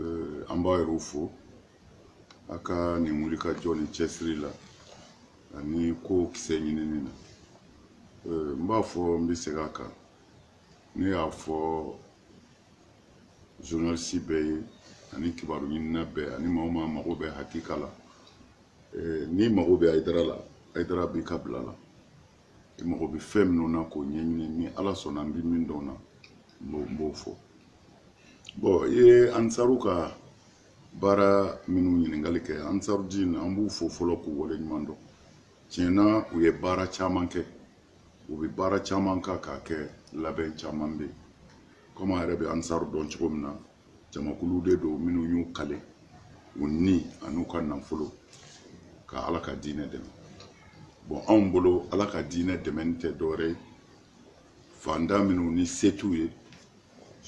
Euh, an b'a yɛrɛw fo a ka nin wulikajɔ ni cɛsiri la ani ko kisɛ ɲinini na euh, n b'a fɔ n bɛ segin a kan ne y'a fɔ journalisi bɛɛ ye ani kibaru ɲinina bɛɛ ani maa o maa mago bɛ hakika la euh, n'i mago bɛ ayidara la ayidara b'i ka bila la i mago bɛ fɛn minnu na k'o ɲɛɲini ni ala sɔnna n bɛ min dɔn na n b'o fɔ bɔn i ye ansaru ka baara minnu ɲininkali kɛ ansaru dini an b'u fo fɔlɔ k'u wale ɲuman dɔn tiɲɛ na u ye baara caman kɛ u bɛ baara caman kan k'a kɛ labɛn caman bɛ yen komi an yɛrɛ bɛ ansaru dɔn cogo min na jamakulu de don minnu y'u kale u ni an'u ka nafolo ka ala ka diinɛ dɛmɛ bɔn anw bolo ala ka diinɛ dɛmɛni tɛ dɔwɛrɛ ye fanda minnu ni se t'u ye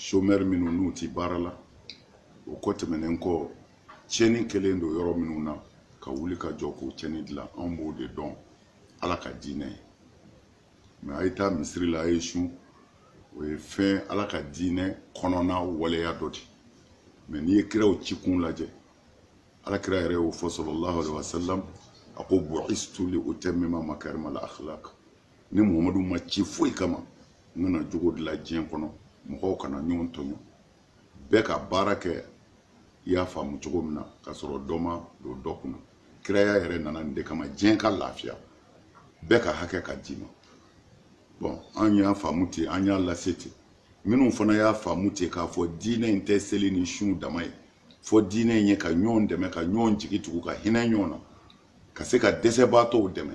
somɛri minnu n'u ti baara la o kɔ tɛmɛnen kɔ tiɲɛni kɛlen don yɔrɔ minnu na ka wuli ka jɔ k'o tiɲɛni dilan anw b'o de dɔn ala ka diinɛ ye mɛ a ye taa misiri la a ye sun o ye fɛn ala ka diinɛ kɔnɔna waleya dɔ de mɛ n'i ye kiraw ci kun lajɛ ala kira yɛrɛ y'o fɔ sallallahu alaihi wasallam a ko bu'istu li utammima makarima al akhlaq ne muhamadu ma ci foyi kama n ka na jogo dilan diɲɛ kɔnɔ mɔgɔw kana ɲɔgɔn tɔɲɔ bɛɛ ka baara kɛ i y'a faamu cogo min na ka sɔrɔ dɔ ma don dɔ kunna kiraya yɛrɛ nana nin de kama diɲɛ ka lafiya bɛɛ ka hakɛ ka d'i ma bɔn an y'a faamu ten an y'a lase ten minnu fana y'a faamu ten k'a fɔ diinɛ in tɛ seli ni sun dama ye fo diinɛ in ye ka ɲɔgɔn dɛmɛ ka ɲɔgɔn jigi tugu ka hinɛ ɲɔgɔn na ka se ka dɛsɛbaatɔw dɛmɛ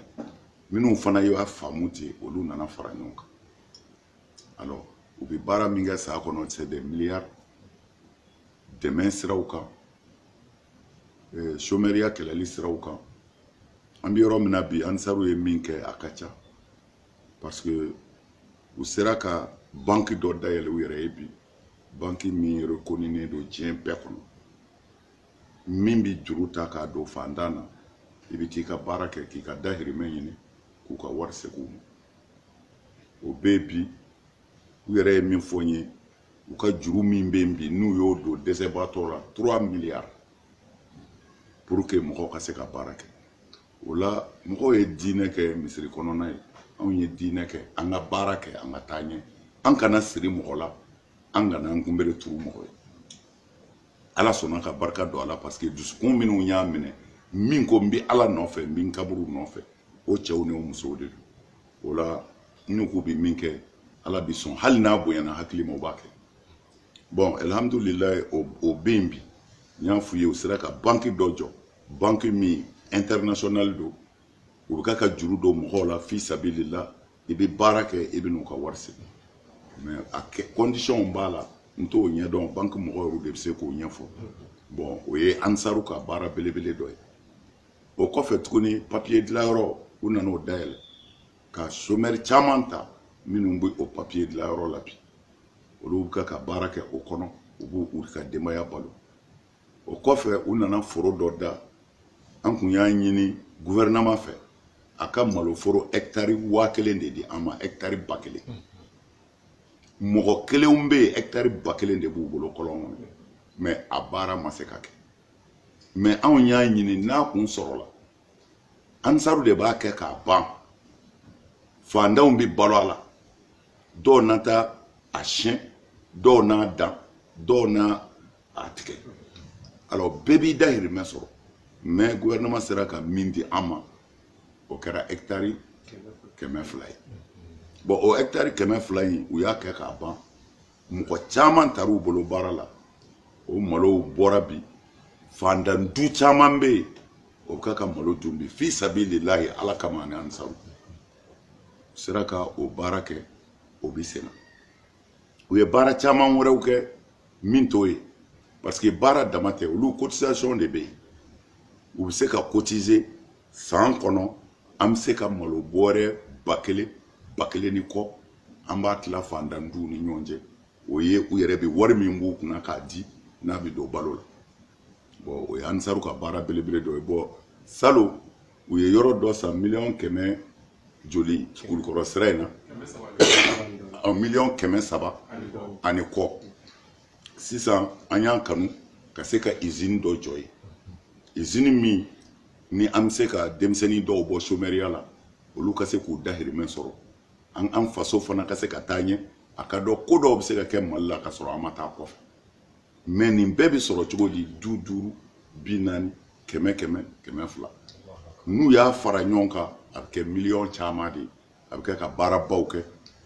minnu fana y'a faamu ten olu nana fara ɲɔgɔn kan alors u bɛ baara min kɛ san kɔnɔ c'est des milliards dɛmɛ siraw kan somɛriya kɛlɛli siraw kan an bɛ yɔrɔ min na bi ansaru ye min kɛ a ka ca parce que u sera ka banki dɔ dayɛlɛ u yɛrɛ ye bi banki min rekoninen don diɲɛ bɛɛ kɔnɔ min bɛ juru ta k'a don fantan na i bɛ t'i ka baara kɛ k'i ka dahirimɛ ɲini k'u ka wari segin u ma o bɛ yen bi u yɛrɛ ye min fɔ n ye u ka juru min bɛ yen bi n'u y'o don dɛsɛbaatɔ la trois milliards pour que mɔgɔw ka se ka baara kɛ o la mɔgɔw ye diinɛ kɛ misiri kɔnɔna ye anw ye diinɛ kɛ an ka baara kɛ an ka taa ɲɛ an kana siri mɔgɔ la an kana an kunbere turu mɔgɔ ye ala sɔnna ka barika don a la parce que dusukun minnu y'a minɛ min ko n bɛ ala nɔfɛ n bɛ n kaburu nɔfɛ o cɛw ni o musow de don o la n'u k'u bɛ min kɛ ala bɛ sɔn hali n'a bonyana hakili ma o b'a kɛ bɔn alihamudulilayi o o bɛ yen bi n y'a f'u ye u sera ka banki dɔ jɔ banki min international don u bɛ ka ka juru don mɔgɔw la fi sabilila i bɛ baara kɛ i bɛ n'u ka wari segin mɛ a kɛ kɔndisiyɔnw b'a la n t'o ɲɛdɔn banki mɔgɔ yɛrɛw de bɛ se k'o ɲɛfɔ bɔn o ye ansaru ka baara belebele dɔ ye o kɔfɛ tuguni papiye dilanyɔrɔ u nana o dayɛlɛ ka somɛri caman ta minnu bɛ o papiye dilanyɔrɔ la bi olu bɛ ka baara kɛ o kɔnɔ u b'u ka denbaya balo o kɔfɛ u nana foro dɔ da an kun y'a ɲini guvɛrɛnaman fɛ a ka maloforo hɛkitari waa kelen de di an ma hɛkitari ba kelen mɔgɔ kelenw bɛ yen hɛkitari ba kelen de b'u bolo kɔlɔn kɔnɔ mɛ a baara ma se ka kɛ mɛ anw y'a ɲini n'a kun sɔrɔla ansaru de b'a kɛ k'a ban fantanw bɛ balo a la dɔw na taa a siyɛn dɔw n'a dan dɔw n'a a tigɛ alors bɛɛ b'i dahirimɛ sɔrɔ mais gouvernement sera ka min di an ma o kɛra hectare kɛmɛ fila ye bon o hectare kɛmɛ fila in u y'a kɛ k'a ban mɔgɔ caman tar'u bolo baara la o malow bɔra bi fandan du caman bɛ yen o bɛ ka ka malo dun bi fi sabililahi ala kama ani ansaru sera ka o baara kɛ o bɛ senna u ye baara caman wɛrɛw kɛ min t'o ye parce que baara dama tɛ olu cotisation de bɛ yen u bɛ se ka cotiser san kɔnɔ an bɛ se ka malo bɔrɛ ba kelen ba kelen ni kɔ an b'a tila fantan duw ni ɲɔgɔn cɛ o ye u yɛrɛ bɛ wari min b'u kunna k'a di n'a bɛ don balo la bɔn o ye ansaru ka baara belebele dɔ ye bɔn salon u ye yɔrɔ dɔ san miliyɔn kɛmɛ joli kulukɔrɔ sira in na miliyɔn kɛmɛ saba ani kɔ sisan an y'a kanu ka se ka izini dɔ jɔ yen izini min ni an bɛ se ka denmisɛnnin dɔw bɔ somɛriya la olu ka se k'u dahirimɛ sɔrɔ an an faso fana ka se ka taa ɲɛ a ka dɔn ko dɔw bɛ se ka kɛ mali la ka sɔrɔ an ma taa kɔfɛ mɛ nin bɛɛ bɛ sɔrɔ cogo di bi duuru bi naani kɛmɛ kɛmɛ kɛmɛ fila n'u y'a fara ɲɔgɔn kan a bɛ kɛ miliyɔn caman de ye a bɛ kɛ ka baarabaw kɛ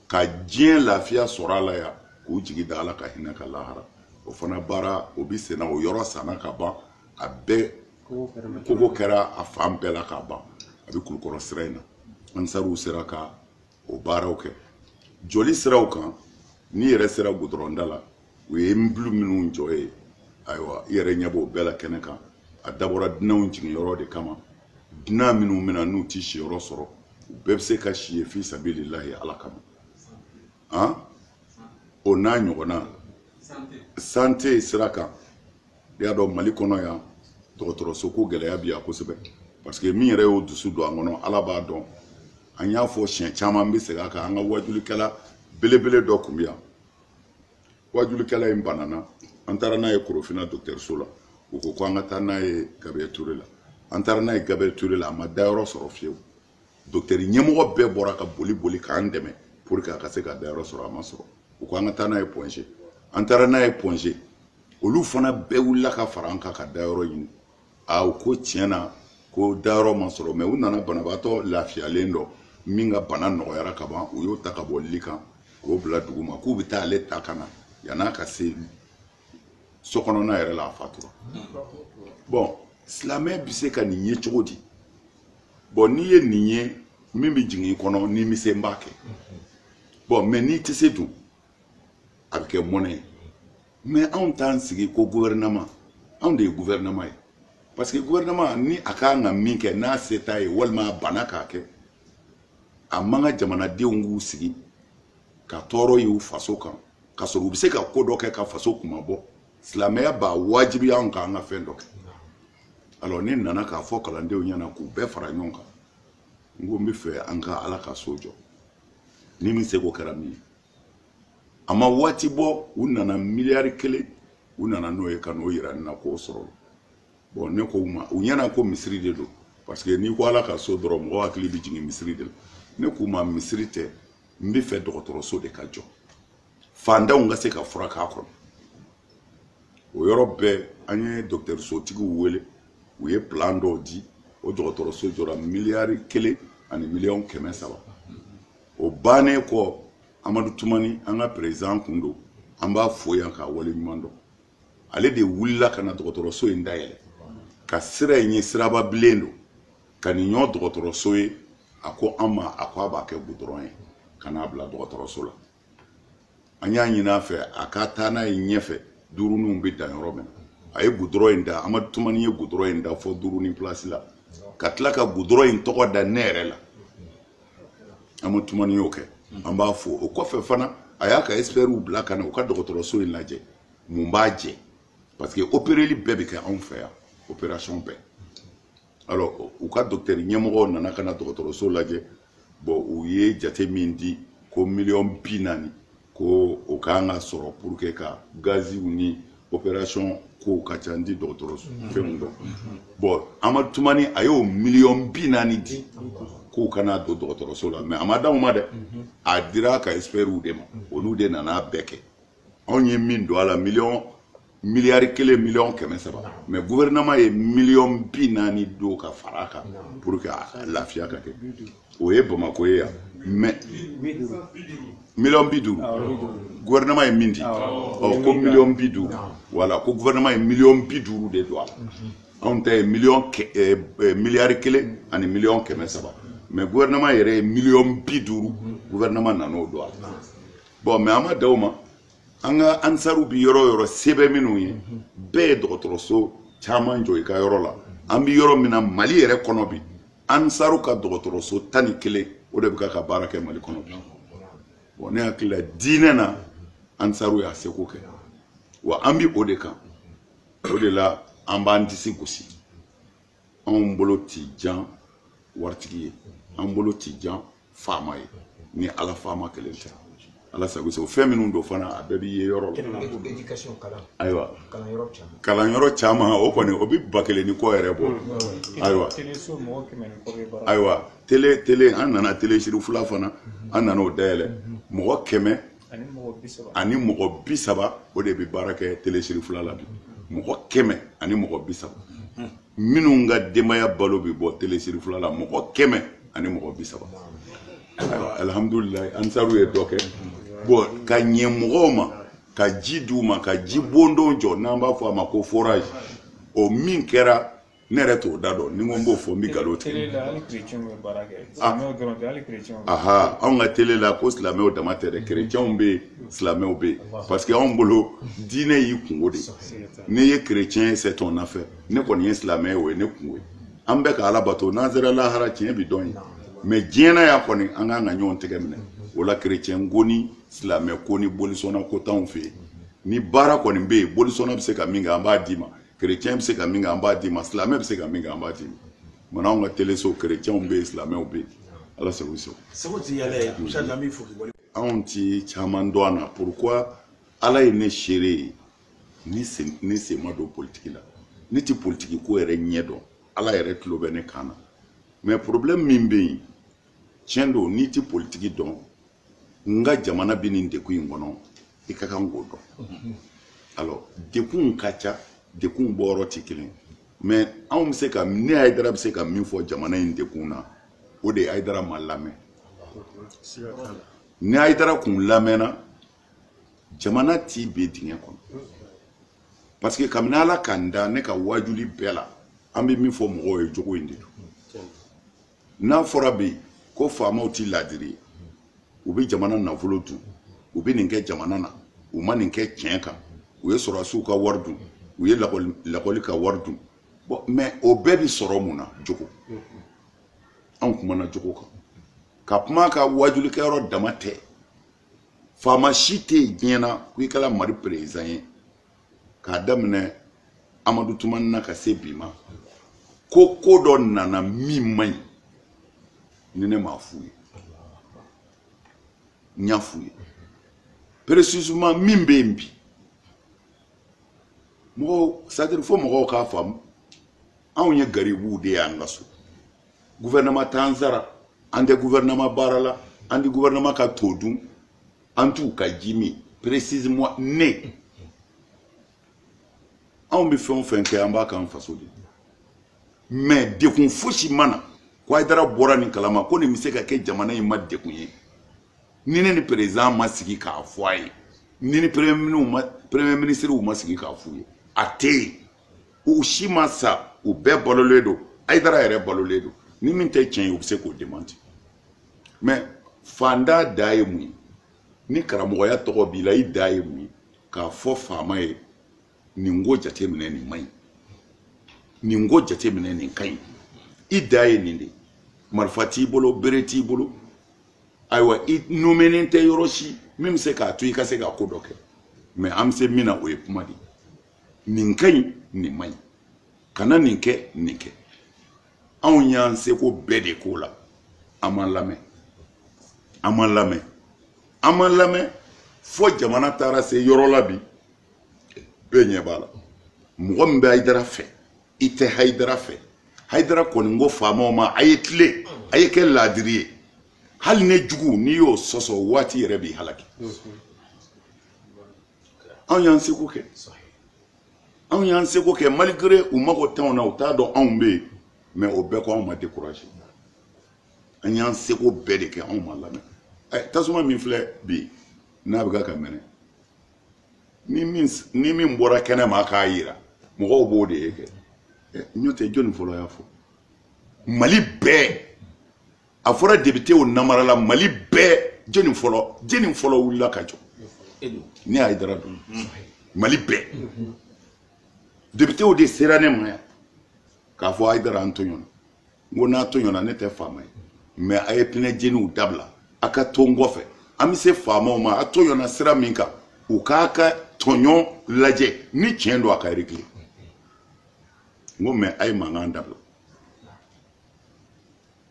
ka diɲɛ lafiya sɔrɔ a la yan k'u jigi da ala ka hinɛ kan lahara o fana baara o bɛ senna o yɔrɔ sanna ka ban a bɛɛ kogo kɛra a fan bɛɛ la ka ban a bɛ kulukɔrɔ sira in na ansaruw sera ka o baaraw kɛ jɔli siraw kan n'i yɛrɛ sera gudɔrɔnda la u ye bulu minnu jɔ ye ayiwa i yɛrɛ ɲɛ b'o bɛɛ la kɛnɛ kan a dabɔra dunanw jiginyɔrɔ de kama dunan minnu bɛna n'u ti siyɔrɔ sɔrɔ u bɛɛ bɛ se ka si ye fi sabililahi ala kama an o n'a ɲɔgɔnna santé sira kan i y'a dɔn mali kɔnɔ yan dɔgɔtɔrɔso ko gɛlɛya bi yan kosɛbɛ parce que min yɛrɛ y'o dusu don an kɔnɔ ala b'a dɔn an y'a fɔ siɲɛ caman n bɛ segin a kan an ka wajulikɛla belebele dɔ tun bɛ yan wajulikɛla in banana an taara n'a ye korofina dɔgɔtɔrɔso la u ko ko an ka taa n'a ye gabriel ture la an taara n'a ye gabriel ture la a ma dayɔrɔ sɔrɔ fiyewu dɔgɔtɔrɔ ɲɛmɔgɔ bɛɛ bɔra ka boli boli k'an dɛmɛ pour que a ka se ka dayɔrɔ sɔrɔ a ma sɔrɔ u ko an ka taa n'a ye point g an taara n'a ye point g olu fana bɛɛ wulila ka fara an kan ka dayɔrɔ ɲini a u ko tiɲɛ na ko dayɔrɔ ma sɔrɔ mais u nana banabaatɔ lafiyalen dɔ min ka bana nɔgɔyara ka ban u y'o ta ka bɔ lit kan k'o bila dugu ma k'u bɛ taa ale ta ka na yann'a ka se so kɔnɔna yɛrɛ la a fatura bon silamɛ bɛ se ka nin ye cogo di bon n'i ye nin ye min bɛ jigin i kɔnɔ ni n bɛ se n b'a kɛ bon mais n'i tɛ se dun a bɛ kɛ mɔnɛ ye mais anw t'an sigi ko gouvernement anw de ye gouvernement ye parce que gouvernement ni a ka kan ka min kɛ n'a se t'a ye walima a banna k'a kɛ a man kan jamanadenw k'u sigi ka tɔɔrɔ y'u faso kan ka sɔrɔ u bɛ se ka ko dɔ kɛ ka faso kunmabɔ silamɛya b'a wajibiya anw kan an ka fɛn dɔ kɛ alors ne nana k'a fɔ kalandenw ɲɛna k'u bɛɛ fara ɲɔgɔn kan n ko n bɛ fɛ an ka ala ka so jɔ ni min seko kɛra min ye a ma waati bɔ u nana miliyari kelen u nana n'o ye ka n'o yira ne na k'o sɔrɔ bon ne ko u ma u ɲɛna ko misiri de don parce que n'i ko ala ka so dɔrɔn mɔgɔ hakili bɛ jigin misiri de la ne k'u ma misiri tɛ n bɛ fɛ dɔgɔtɔrɔso de ka jɔ fantanw ka se ka furak'a kɔnɔ o yɔrɔ bɛɛ an ye dɔgɔtɔrɔsotigiw wele u ye plan dɔw di o dɔgɔtɔrɔso jɔra miliyari kelen ani miliyɔn kɛmɛ saba o bannen kɔ amadu tumani an ka président kun don an b'a fo yan k'a wale ɲuman dɔn ale de wulila ka na dɔgɔtɔrɔso in dayɛlɛ ka sira in ye siraba bilen don ka nin ɲɔgɔn dɔgɔtɔrɔso ye a ko an ma a ko a b'a kɛ gudɔrɔn ye ka n'a bila dɔgɔtɔrɔso la an y'a ɲini a fɛ a ka taa n'a ye ɲɛfɛ duuruninw bɛ dan yɔrɔ min na a ye gudɔrɔn in da amadu tumani ye gudɔrɔn in da fɔ duurunin pilasi la ka tila ka gudɔrɔn in tɔgɔ da ne yɛrɛ la amadu tumani y'o kɛ an b'a fo o kɔfɛ fana a y'a ka ɛsipɛriw bila ka na u ka dɔgɔtɔrɔso in lajɛ mun b'a jɛ parce que opereli bɛɛ bɛ kɛ anw fɛ yan operasɔn bɛɛ alors u ka docteur ɲɛmɔgɔw nana ka na dɔgɔtɔrɔso lajɛ bon u ye jate min di ko miliyɔn bi naani ko o kan ka sɔrɔ pour que ka gaziw ni opération kow ka ca n ti dɔgɔtɔrɔso fɛnw dɔn bon amadu tumani a y'o miliyɔn bi naani di k'u ka n'a don dɔgɔtɔrɔso la mais a ma d'anw ma dɛ a dira ka expertw de ma olu de nana bɛɛ kɛ anw ye min don a la miliyɔn miliyari kelen miliyɔn kɛmɛ saba mais gouvernement ye miliyɔn bi naani don ka fara a kan pour que a lafiya ka kɛ o ye bamakɔ ye yan mais miliyɔn bi duuru gouvernement ye min di ɔ ko miliyɔn bi duuru voilà ko gouvernement ye miliyɔn bi duuru de don a la anw ta ye miliyɔn miliyari kelen ani miliyɔn kɛmɛ saba mais gouvernement yɛrɛ ye miliyɔn bi duuru gouvernement nan'o don a la bon mais an ma dan o ma an ka ansaru bi yɔrɔ yɔrɔ sɛbɛ minnu ye bɛɛ ye dɔgɔtɔrɔso caman jɔ i ka yɔrɔ la an bi yɔrɔ min na mali yɛrɛ kɔnɔ bi ansaru ka dɔgɔtɔrɔso tan ni kelen o de bɛ k'a ka baara kɛ mali kɔnɔ bi bon ne hakili la diinɛ na ansaru y'a seko kɛ wa an bi o de kan o de la an b'an disi gosi anw bolo ti jan waritigi ye an bolo ti jan faama ye ni ala faama kelen tɛ ala sago sago fɛn minnu don fana a bɛɛ b'i ye yɔrɔ la ayiwa kalanyɔrɔ caman o kɔni o bɛ ba kelen ni kɔ yɛrɛ bɔ ayiwa ayiwa tele tele an nana tele sirifula fana an nana o dayɛlɛ mɔgɔ kɛmɛ ani mɔgɔ bi saba o de bɛ baara kɛ tele sirifula la bi mɔgɔ kɛmɛ ani mɔgɔ bi saba minnu ka denbaya balo bɛ bɔ tele sirifula la mɔgɔ kɛmɛ ani mɔgɔ bi saba alihamudulilayi ansaru ye dɔ kɛ bon ka ɲɛ mɔgɔw ma ka ji di u ma ka ji bondon jɔ n'an b'a fɔ a ma ko forage o min kɛra ne yɛrɛ t'o da dɔn ni n ko n b'o fɔ n bɛ nkalon tigɛ tele la hali kerecɛnw bɛ baara kɛ silamɛw dɔrɔn tɛ hali kerecɛnw aha anw ka tele la ko silamɛw dama tɛ dɛ kerecɛnw bɛ yen silamɛw bɛ yen parce que anw bolo diinɛ y'i kunko de ye n'i ye kerecɛn ye c'est ton affaire ne kɔni ye silamɛ ye o ye ne kunko ye an bɛ ka ala bato n'an sera lahara tiɲɛ bi dɔn yen mais diɲɛ na yan kɔni an kan ka ɲɔgɔn tɛgɛ minɛ o la kerecɛn ko ni silamɛ ko ni bolisɔnna ko t'anw fɛ yen ni baara kɔni bɛ yen bolisɔnna bɛ se ka min kɛ an b'a d'i ma chrétien bɛ se ka min kɛ an b'a d'i ma silamɛ bɛ se ka min kɛ an b'a d'i ma mun anw ka teleso chrétienw bɛ yen silamɛw bɛ yen ala sago i sago. seko ti yɛlɛ ye musa an b'i fo k'i wale. anw ti caman dɔn a na pourquoi ala ye ne seere ye ne sen ne sen ma don politiki la ne ti politiki ko yɛrɛ ɲɛ dɔn ala yɛrɛ tulo bɛ ne kan na mais problème min bɛ yen tiɲɛ don n'i ti politiki dɔn nka jamana bɛ nin degun in kɔnɔ i ka kan k'o dɔn alors dekunw ka ca dekunw bɔyɔrɔ tɛ kelen mais anw bɛ se ka ne ayidara bɛ se ka min fɔ jamana in dekun na o de ye ayidara ma lamɛn ni ayidara kun lamɛnna jamana ti bin dingɛ kɔnɔ parce que kabini ala ka n da ne ka waajuli bɛɛ la an bɛ min fɔ mɔgɔw ye jogo in de don n'a fɔra bi ko faamaw ti laadiri ye u bɛ jamana nafolo dun u bɛ nin kɛ jamana na u ma nin kɛ tiɲɛ kan u ye sɔrɔdasiw ka wari dun u ye lakɔli ka wari dun bon mais o bɛɛ bi sɔrɔ mun na jogo anw kumana jogo kan ka kuma ka waajulikɛyɔrɔ dama tɛ faama si tɛ yen diɲɛ na ko i kɛra mali président ye k'a daminɛ amadu tumani na ka se bi ma ko ko dɔ nana min man ɲi ni ne m'a f'u ye n y'a f'u ye précisément min bɛ yen bi mɔgɔw c'est-à-dire fo mɔgɔw k'a faamu anw ye garibuw de y'an ka so gouvernement t'an sara an tɛ gouvernement baara la an tɛ gouvernement ka to dun an t'u ka ji min précisément ne anw bɛ fɛn o fɛn kɛ an b'a k'an faso de mais dekun fosi ma na ko ayidara bɔra nin kalama ko nin bɛ se ka kɛ jamana in ma dekun ye ni ne ni président ma sigi k'a fɔ a ye ni ni premier minisiriw ma sigi k'a f'u ye a tɛ yen u si ma sa u bɛɛ balolen don ayidara yɛrɛ balolen don ni min tɛ tiɲɛ ye u bɛ se k'o démentir mais faantan dan ye mun ye ni karamɔgɔya tɔgɔ b'i la i dan ye mun ye k'a fɔ faama ye nin ko jateminɛ nin man ɲi nin ko jateminɛ nin ka ɲi i dan ye nin de marifa t'i bolo bere t'i bolo ayiwa i nomenen tɛ yɔrɔ si min bɛ se k'a to i ka se ka ko dɔ kɛ mais an bɛ se min na o ye kuma de nin ka ɲi nin man ɲi kana nin kɛ nin kɛ anw y'an seko bɛɛ de k'o la an ma lamɛn an ma lamɛn an ma lamɛn fo jamana taara se yɔrɔ la bi bɛɛ ɲɛ b'a la mɔgɔ min bɛ hayidara fɛ i tɛ hayidara fɛ hayidara kɔni ko faamaw ma a ye tilen a ye kɛ laadiri ye hali ne jugu n'i y'o sɔsɔ waati yɛrɛ b'i halaki anw y'an seko kɛ anw y'an seko kɛ malgré u mago t'anw na u t'a dɔn anw bɛ yen mais o bɛɛ kɔ anw ma découragé an y'an seko bɛɛ de kɛ anw ma lamɛn ɛ eh, tasuma min filɛ bi n'a bɛ ka ka mɛnɛ ni min bɔra kɛnɛ ma k'a yira mɔgɔw b'o de ye kɛ eh, n'o tɛ jɔni fɔlɔ y'a fɔ mali bɛɛ a fɔra depitew namarala mali bɛɛ jɔni fɔlɔ jɔni fɔlɔ wulila ka jɔ ne ayidara don mali bɛɛ depitew de sera ne ma yan k'a fɔ ayidara an tɔɲɔna n ko n'a tɔɲɔna ne tɛ faama ye mɛ a ye pinɛ jeniw dabila a ka to n kɔfɛ an bɛ se faamaw ma a tɔɲɔna sira min kan u k'a ka tɔɲɔ lajɛ ni tiɲɛ don a ka regile n ko mɛ a ye mankan dabila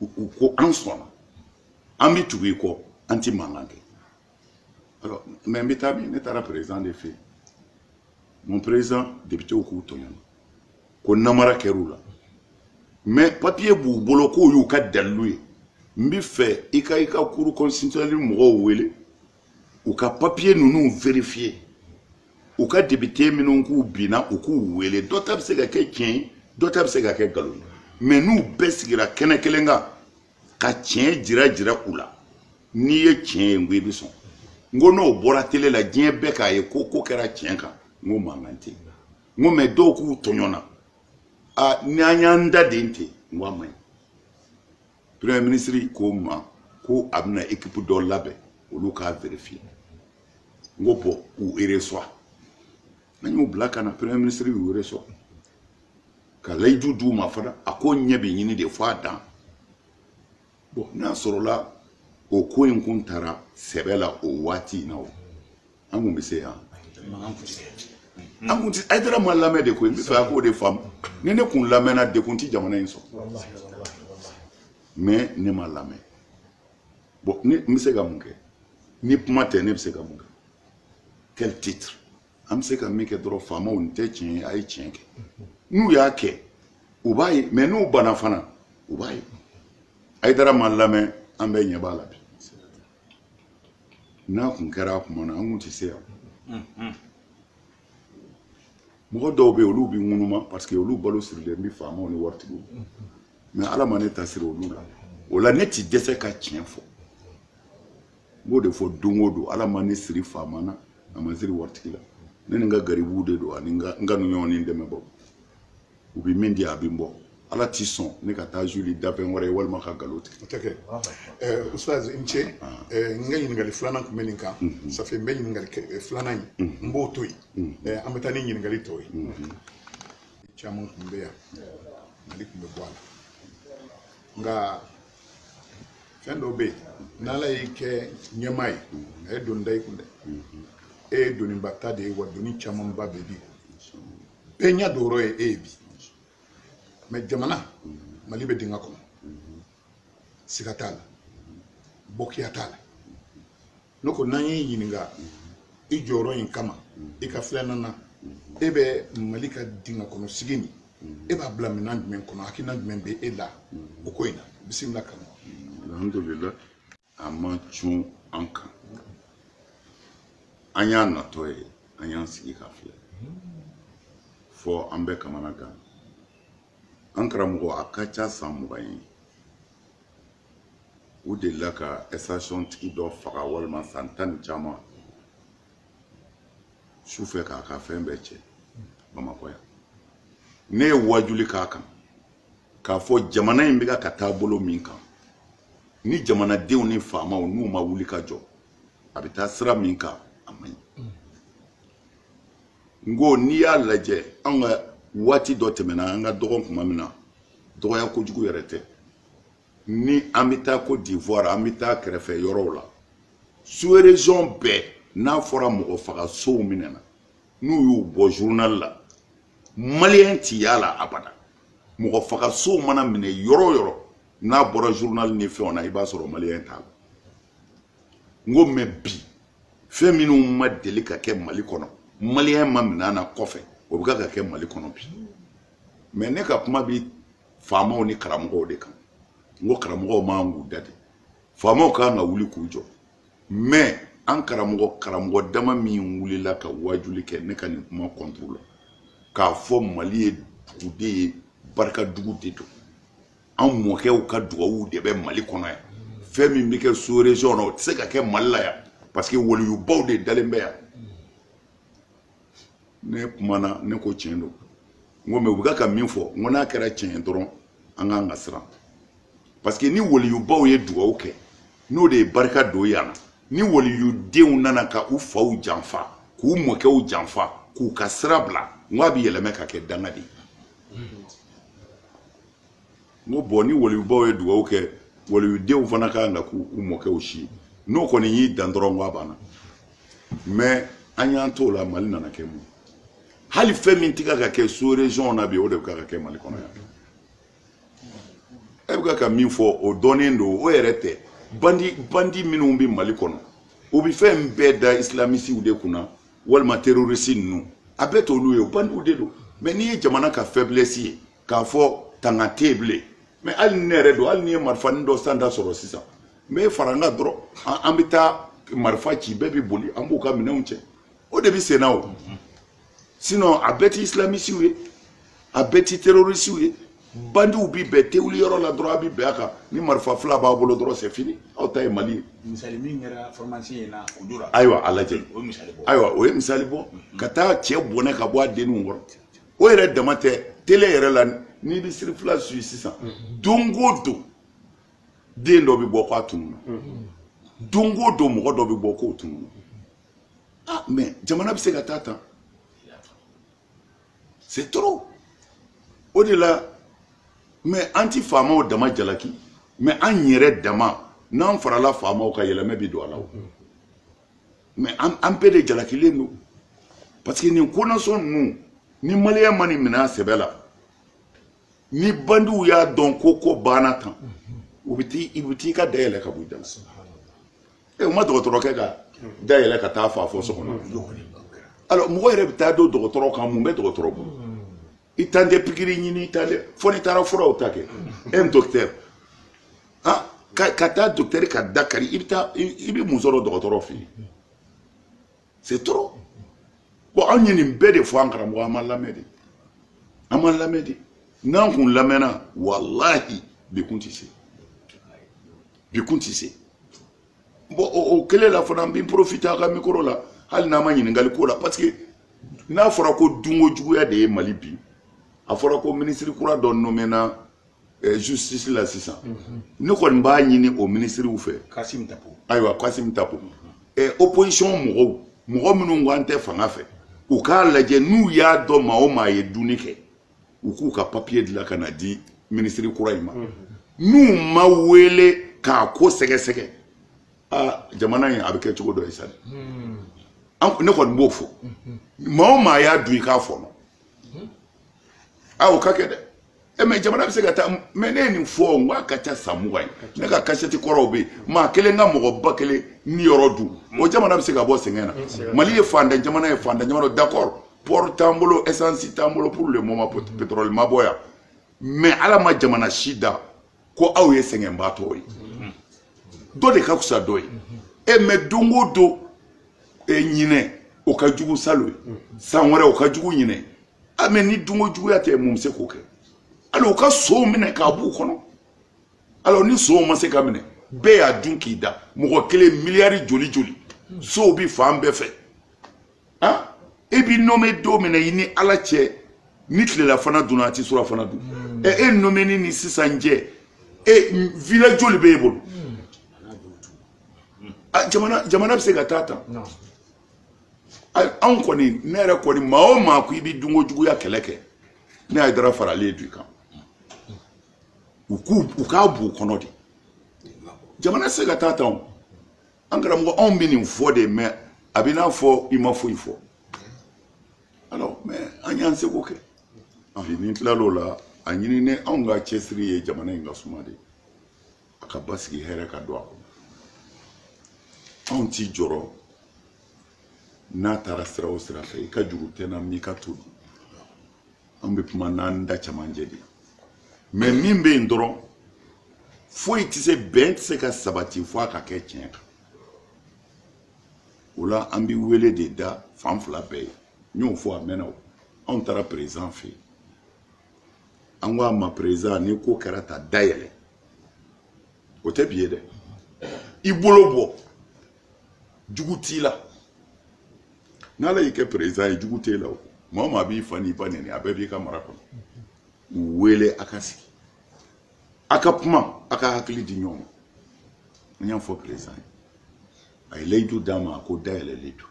u ko an sɔnna an bɛ tugu i kɔ an tɛ mankan kɛ alors mais n bɛ taa min ne taara président de fɛ yen mon président députéw k'u tɔɲɔna ko namara kɛr'u la mais papier b'u bolo k'o y'u ka dalilu ye n bɛ fɛ i ka i ka cour constitutionnelle mɔgɔw wele u ka papiye ninnu verifiye u ka depite minnu k'u binna u k'u wele dɔ ta bɛ se ka kɛ tiɲɛ ye dɔ ta bɛ se ka kɛ nkalon ye mɛ n'u bɛɛ sigira kɛnɛ kelen kan ka tiɲɛ jira jira u la n'i ye tiɲɛ ye n ko i bɛ sɔn n ko n'o bɔra tele la diɲɛ bɛɛ k'a ye ko ko kɛra tiɲɛ kan n ko mankan tɛ yen n ko mɛ dɔw k'u tɔɲɔna a n'an y'an da den ten n ko a man ɲi premier ministre ko n ma ko a bɛna ekipu dɔ labɛn olu k'a verifiye n ko bɔn u reçoit an y'u bila ka na premier ministre y'u reçoit ka layidu d'u ma fana a ko ɲɛ bɛ ɲini de fo a dan bɔn n'a sɔrɔla o ko in kun tara sɛbɛ la o waati in na o an kun bɛ se yan an kun ti ayidara ma lamɛn de koyi n bɛ fɛ a k'o de faamu ni ne kun lamɛnna degun ti jamana in sɔrɔ mɛ ne ma lamɛn bɔn ne n bɛ se ka mun kɛ ni kuma tɛ ne bɛ se ka mun kɛ quel titre an bɛ se ka min kɛ dɔrɔn faamaw nin tɛ tiɲɛ ye a ye tiɲɛ kɛ n'u y'a kɛ u b'a ye mɛ n'u banna fana u b'a ye ayidara ma lamɛn an bɛɛ ɲɛ b'a la bi n'a kun kɛra a kuma na an kun tɛ se yan mm-hmm. mɔgɔ dɔw bɛ yen olu bɛ ŋunuma parce que olu balo sirilen bɛ faamaw ni waritigiw mɛ mm-hmm. ala ma ne ta siri olu la o la ne tɛ dɛsɛ ka tiɲɛ fɔ n b'o de fɔ don o don ala ma ne siri faama na a ma n siri waritigi la ne ni n ka garibuw de don ani n ka n ka ɲɔgɔn ni dɛmɛbaaw u bɛ min di a bɛ n bɔ ala ti sɔn ne ka taa suuli danfɛn wɛrɛ ye walima ka nkalon tigɛ. o tɛ kɛ ɛɛ ustaz n cɛ ɛɛ n ka ɲininkali filanan tun bɛ nin kan ça fait n bɛ ɲininkali kɛ filanan in n b'o to yen ɛɛ an bɛ taa ni ɲininkali tɔw ye caman tun bɛ yan mali tun bɛ bɔ a la nka fɛn dɔw bɛ yen n'ala y'i kɛ ɲɛmaa ye a ye doni da i kun dɛ e ye doniba ta de ye wa doni camanba bɛ bi bɛɛ ɲɛ don yɔrɔ ye e ye bi mɛ jamana mali bɛ dingɛ kɔnɔ siga t'a la bɔkiya t'a la ne ko n'an y'i ɲininka i jɔyɔrɔ in kama i ka filɛnan na e bɛ mali ka dingɛ kɔnɔ sigi nin e b'a bila minɛn jumɛn kɔnɔ hakilina jumɛn bɛ e la o ko in na bisimila kama alhamdulilayi a ma cun an kan an y'a natɔ ye an y'an sigi k'a filɛ fɔ an bɛ kamanagan an karamɔgɔ a ka ca san mugan ye u delila ka ɛsitasiyɔn tigi dɔ faga walima san tan ni caman su fɛ k'a ka fɛn bɛɛ cɛ bamakɔ yan ne ye wajuli k'a kan k'a fɔ jamana in bɛ ka taa bolo min kan ni jamanadenw ni faamaw n'u ma wuli ka jɔ a bɛ taa sira min kan a man ɲi n ko n'i y'a lajɛ an ka waati dɔ tɛmɛna an ka dɔgɔn tuma min na dɔgɔya kojugu yɛrɛ tɛ ni an bɛ taa Côte d'Ivoire an bɛ taa kɛrɛfɛ yɔrɔw la sous région bɛɛ n'a fɔra mɔgɔ faga sonw minɛna n'u y'u bɔ journal la maliyɛn ti y'a la abada mɔgɔ faga sonw mana minɛ yɔrɔ o yɔrɔ n'a bɔra journal ni fɛnw na i b'a sɔrɔ maliyɛn t'a la n ko mɛ bi fɛn minnu ma deli ka kɛ mali kɔnɔ maliyɛn ma minɛ na kɔfɛ o bɛ ka ka kɛ mali kɔnɔ bi mɛ ne ka kuma bi faamaw ni karamɔgɔw de kan n ko karamɔgɔw man k'u da de faamaw kan ka wuli k'u jɔ mɛ an karamɔgɔ karamɔgɔ dama min wulila ka waajuli kɛ ne ka nin kuma kɔnturu la k'a fɔ mali ye dugu de ye barika dugu de don an mɔkɛw ka dugawu de bɛ mali kɔnɔ yan fɛn min bɛ kɛ sous région na o tɛ se ka kɛ mali la yan parce que waliyubaw de dalen bɛ yan ne kumana ne ko tiɲɛ don n ko mɛ u bɛ ka min fɔ n ko n'a kɛra tiɲɛ ye dɔrɔn an kan ka siran parce que ni waliyubaw ye dugawu kɛ n'o de ye barika don yan na ni waliyudenw nana ka u faw janfa k'u mɔkɛw janfa k'u ka sira bila n ko a bɛ yɛlɛmɛ ka kɛ danga de ye n ko bɔn ni waliyubaw ye dugawu kɛ waliyudenw fana ka kan ka k'u u mɔkɛw si ye n'o kɔni y'i dan dɔrɔn ko a banna mɛ an y'an t'o la mali nana kɛ mun hali fɛn min tɛ ka ka kɛ sous région na bi o de bɛ ka ka kɛ mali kɔnɔ yan e bɛ ka ka min fɔ o dɔnnen don o yɛrɛ tɛ bandi bandi minnu bɛ mali kɔnɔ o bɛ fɛn bɛɛ da islamisiw de kunna walima terorisi ninnu a bɛɛ t'olu ye o bandiw de don mɛ n'i ye jamana ka faiblesse ye k'a fɔ tanga tɛ yen bilen mais hali ni ne yɛrɛ don hali ni n ye marifanin dɔ sanda sɔrɔ sisan n bɛ fara n kan dɔrɔn an bɛ taa marifa ci bɛɛ bɛ boli an b'u ka minɛnw cɛ o de bɛ sen na o sinon a bɛɛ ti isilamisiw ye a bɛɛ ti terorisiw ye bandiw bi bɛɛ tewuli yɔrɔ la dɔrɔn a bi bin a kan ni marifa fila b'a bolo dɔrɔn c'est fini aw t'a ye mali ye misali min kɛra pharmacien in na o dora ayiwa a lajɛ ayiwa o ye misali bɔ ka taa cɛ bɔnɛ ka bɔ a denninw kɔrɔ o yɛrɛ dama tɛ tele yɛrɛ la n'i bɛ cherifla suivi sisan don o don den dɔ bɛ bɔ k'a tununna don o don mɔgɔ dɔ bɛ bɔ k'o tununna ah mais jamana bɛ se ka taa tan c'est trop o de la mais an ti faamaw dama jalaki mais an yɛrɛ dama n'an farala faamaw kan yɛlɛma bi don a la o. mais an bɛɛ de jalakilen don parce que nin konasɔn ninnu ni maliyɛn ma nin minɛ a sɛbɛ la ni bandiw y'a dɔn ko ko banna tan u bɛ t'i u bɛ t'i ka da yɛlɛ ka bɔ i da la e u ma dɔgɔtɔrɔkɛ ka da yɛlɛ ka taa faa fo so kɔnɔ alors mɔgɔ yɛrɛ bɛ taa don dɔgɔtɔrɔ kan mun bɛ dɔgɔtɔrɔ bolo i tan tɛ pikiri ɲini i tan tɛ fo n'i taara furaw ta kɛ un docteur ah ka ka taa docteur ka da kari i bɛ taa i bɛ mun sɔrɔ dɔgɔtɔrɔ fɛ yen c'est trop bon anw ye nin bɛɛ de fɔ an karamɔgɔ an ma lamɛn de an ma lamɛn de n'an kun lamɛnna walahi bi kun tɛ se bi kun tɛ se. bon o kelen la fana n bɛ profiter a ka mikoro la hali n'a ma ɲininkali k'o la parce que n'a fɔra ko dunko juguya de ye mali bi a fɔra ko minisiri kura dɔ nomena eh, justice la sisan mhm. ne kɔni b'a ɲini o minisiriw fɛ kasim tapo ayiwa kasim tapo mhm. eh, opposition mɔgɔw mɔgɔ minnu ko an tɛ fanga fɛ u k'a lajɛ n'u y'a dɔn maa o maa ye dunni kɛ u k'u ka papiye dilan ka n'a di minisiri kura in ma n'u ma wele k'a ko sɛgɛsɛgɛ aa jamana in a bɛ kɛ cogo dɔ ye sa dɛ ne kɔni b'o fɔ maa o maa y'a dun i k'a fɔnɔ a o ka kɛ dɛ e mais jamana bɛ se ka taa mais ne ye nin fɔ n ko a ka ca san mugan ye ne ka kasɛti kɔrɔw bɛ yen maa kelen ka mɔgɔ ba kelen niyɔrɔ dun o jamana bɛ se ka bɔ sɛgɛn na mali ye fantan jamana ye fantan jamana d'accord port t'an bolo essence t'an bolo pour le moment pétrole ma bɔ yan mais ala ma jamana si da ko aw ye sɛgɛnbaatɔ ye dɔ de ka fisa dɔ ye e mais don o don e ɲinɛ o ka jugu salon ye san wɛrɛ o ka jugu ɲinɛ a mais ni dunko juguya tɛ mun bɛ se k'o kɛ hali u ka sow minɛ k'a b'u kɔnɔ alors ni sow ma se ka minɛ bɛɛ y'a dun k'i da mɔgɔ kelen miliyari joli joli sow bi fan bɛɛ fɛ han e b'i nommé don min na i ni ala cɛ ni tilelafana dunna a ti surafana dun hmm. ɛ e nomeni ni sisan cɛ e village joli b'e bolo hmm. ah, jamana jamana bɛ se ka taa tan anw kɔni ne yɛrɛ kɔni maa o maa ko i bɛ dunko juguya kɛlɛ kɛ ne hayidara faralen d'u kan u k'u u k'a b'u kɔnɔ de jamana tɛ se ka taa tan o an karamɔgɔ anw bɛ nin fɔ de mais a bɛ n'a fɔ i ma foyi fɔ alors mais an y'an seko kɛ bi n'i tilal'o la a ɲini ne anw ka cɛsiri ye jamana in ka suma de a ka basigi hɛrɛ ka don a kɔnɔ anw t'i jɔrɔ n'a taara sira o sira fɛ i ka juru tɛ n na n m'i ka to dun an bɛ kuma n'an da cɛmancɛ de mais min bɛ yen dɔrɔn foyi tɛ se bɛn tɛ se ka sabati fo a ka kɛ tiɲɛ kan o la an bɛ wele de da fan fila bɛɛ ye n y'o fɔ a mɛnna o anw taara président fɛ yen an ko a ma président ni ko kɛra tan dayɛlɛ o tɛ bi ye dɛ i bolo bɔ jugu t'i la n'ala y'i kɛ président ye jugu t'e la o maa o maa b'i fa n'i ba nɛni a bɛɛ b'i ka mara kɔnɔ u wele a ka sigi a ka kuma a ka hakili di ɲɔgɔn ma n y'a fɔ président ye a ye layidu d'an ma a ko dayɛlɛ layidu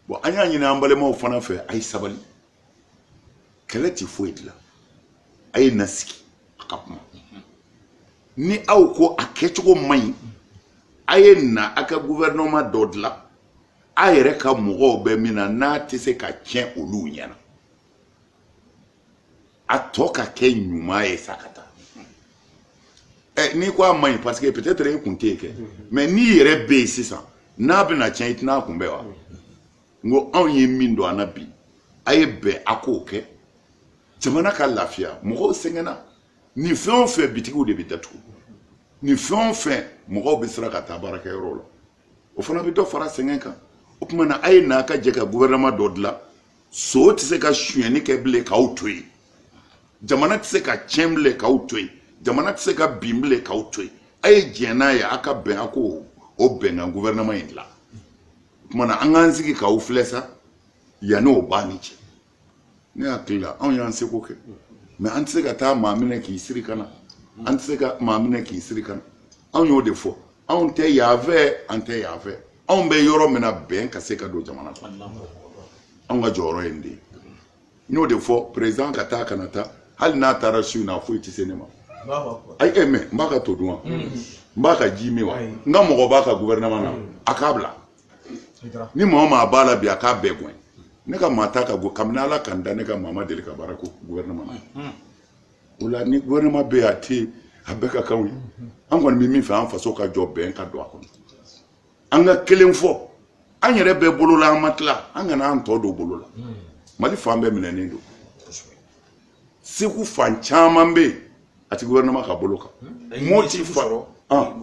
bon an y'a ɲini an balimaw fana fɛ a ye sabali kɛlɛ tɛ foyi dilan a ye na sigi a ka kuma ni aw ko a kɛcogo man ɲi a ye na a ka gouvernement dɔ dilan a yɛrɛ ka mɔgɔw bɛ min na n'a tɛ se ka tiɲɛ olu ɲɛna a tɔ ka kɛ ɲuman ye sa ka taa ɛ n'i ko a man ɲi parce que peut-être e kun tɛ yen kɛ mais n'i yɛrɛ bɛ yen sisan n'a bɛna tiɲɛ i tɛna a kunbɛn wa. n ko anw ye min don an na bi a ye bɛn a k'o kɛ jamana ka lafiya mɔgɔw sɛgɛnna nin fɛn o fɛn bitigiw de bɛ datugu nin fɛn o fɛn mɔgɔw bɛ siran ka taa baarakɛyɔrɔw la o fana bɛ dɔ fara sɛgɛn kan o tuma na a ye na a ka jɛ ka gouvernement dɔ dilan son tɛ se ka sonyɛni kɛ bilen k'aw to yen jamana tɛ se ka tiɲɛ bilen k'aw to yen jamana tɛ se ka bin bilen k'aw to yen a ye diɲɛ n'a ye a ka bɛn a k'o bɛnkan gouvernement in dilan tuma na an k'an sigi k'aw filɛ sa yanni o b'a ni cɛ ne hakili la anw y'an seko kɛ mais an tɛ se ka taa maa minɛ k'i siri ka na an tɛ se ka maa minɛ k'i siri ka na anw y'o de fɔ anw tɛ yan fɛ an tɛ yan fɛ anw bɛ yɔrɔ min na bɛn ka se ka don jamana kɔnɔ anw ka jɔyɔrɔ ye nin de ye n y'o de fɔ président ka taa kana taa hali n'a taara su in na foyi tɛ se ne ma ayi e mɛ n b'a ka to dun wa n b'a ka ji min wa n ka mɔgɔ b'a ka gouvernement na a k'a bila ni maa o maa b'a la bi a k'a bɛɛ gɛn ne ka maa t'a ka go kabini ala ka n da ne ka maa ma deli ka baara ko gouvernement na o la ni gouvernement bɛ yen a tɛ yen a bɛɛ ka kan anw ye an kɔni bɛ min fɛ an faso ka jɔ bɛn ka don a kɔnɔ an ka kelen fɔ an yɛrɛ bɛɛ bolo la an ma tila an kana an tɔ don bolo la hmm. mali fan bɛɛ minɛnen don segu fan caman bɛ yen a ti gouvernement ka bolo kan hmm. moti fan ah.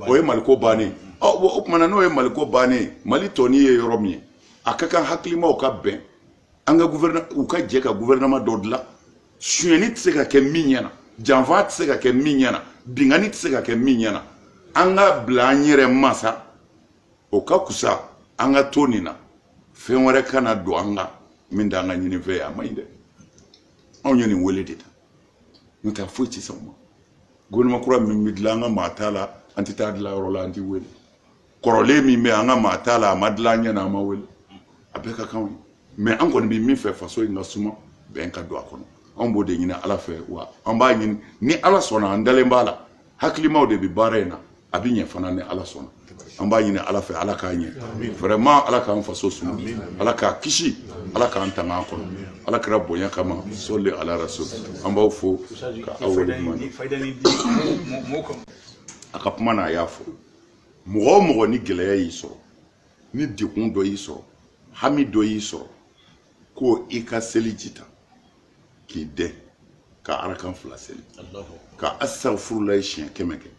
o ye maliko bannen oh, o tuma na n'o ye maliko bannen mali tɔni ye yɔrɔ min ye a ka kan hakilimaw ka bɛn an ka u ka jɛ ka gouvernement dɔ dilan sonyɛni tɛ se ka kɛ min ɲɛna janfa tɛ se ka kɛ min ɲɛna binkanni tɛ se ka kɛ min ɲɛna an ka bila an yɛrɛ ma sa o ka kusa an ka to nin na fɛn wɛrɛ kana don an kan min t'an ka ɲinifɛn ye a ma ɲi dɛ anw ye nin wele de ta n'o tɛ foyi tɛ sɔn o ma gouvernement kura min bɛ dilan an ka maa t'a la an tɛ taa dilan yɔrɔ la an tɛ wele kɔrɔlen min bɛ an ka maa t'a la a ma dilan an ɲɛ na an ma wele a bɛɛ ka kan an ye mais an kɔni bɛ min fɛ faso in ka suma bɛn ka don a kɔnɔ anw b'o de ɲini ala fɛ wa an b'a ɲini ni ala sɔnna an dalen b'a la hakilimaw de bɛ baara in na a bɛ ɲɛ fana ni ala sɔnna an b'a ɲini ala fɛ ala k'a ɲɛ vraiment ala k'an faso suma ala k'a kisi ala k'an tanga a kɔnɔ ala kira bonya kama sɔli ala rasul an b'aw fo ka aw waleɲuman a ka kuma na a y'a fɔ mɔgɔ o mɔgɔ ni gɛlɛya y'i sɔrɔ ni degun dɔ y'i sɔrɔ hami dɔ y'i sɔrɔ ko i ka seli ji ta k'i dɛn ka arakan fila seli ka astagfirulayi siɲɛ kɛmɛ kɛ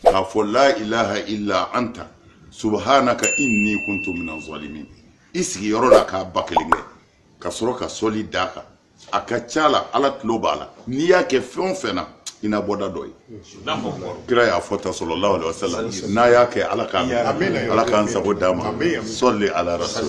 k'a fɔ la ilaha illa anta subhanaka inni kuntu minaz zalimin i sigiyɔrɔ la k'a ba kelen kɛ ka sɔrɔ ka sɔli d'a kan a ka ca la ala tulo b'a la n'i y'a kɛ fɛn o fɛn na i na bɔda dɔ ye kira y'a fɔ tan sallallahu alaihi wasallam n'a y'a kɛ ala k'a ala k'an sago d'an ma sɔli ala rasul